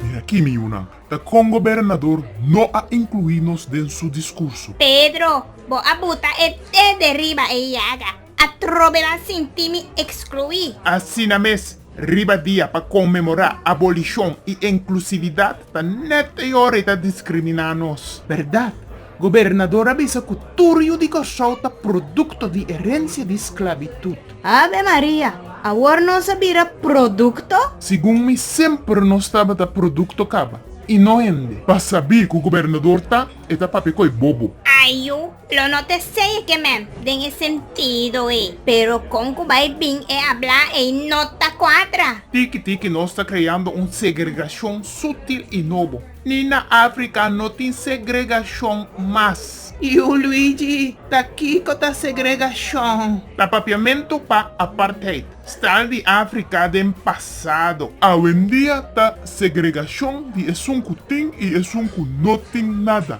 Di aki mi yunan, ta kon gobernador no a inclui nos den su discurso. Pedro, bo a buta e te deriba e yaga. Atrobe nan sinti mi ekskluí. Asina mes, riba dia pa konmemorá abolishon i enklusividat ta nèt e ora e ta diskriminá nos. Bèrdat, gobernador a bisa ku tur yu di Kòrsou ta produkto di erensia di sklabitut. Ave Maria! Awor nos a bira produkto? Segun mi semper nos tabata produkto kaba i no hende. Pa sabí ku gobernador ta, e ta papia ku e bobo. Ayu, Lo no ta esey e ke mem den e sentido ey. Pero con cu bay bin e habla ey no ta cuadra. Tiki tiki nos ta creando un segregacion sutil y nobo. Ni na Africa no tin segregacion mas. Tiu Luigi, ta kico ta segregacion? Ta papiamento pa apartheid, stal di Africa den pasado. Awendia ta segregacion di esun cu tin y esun cu no tin nada.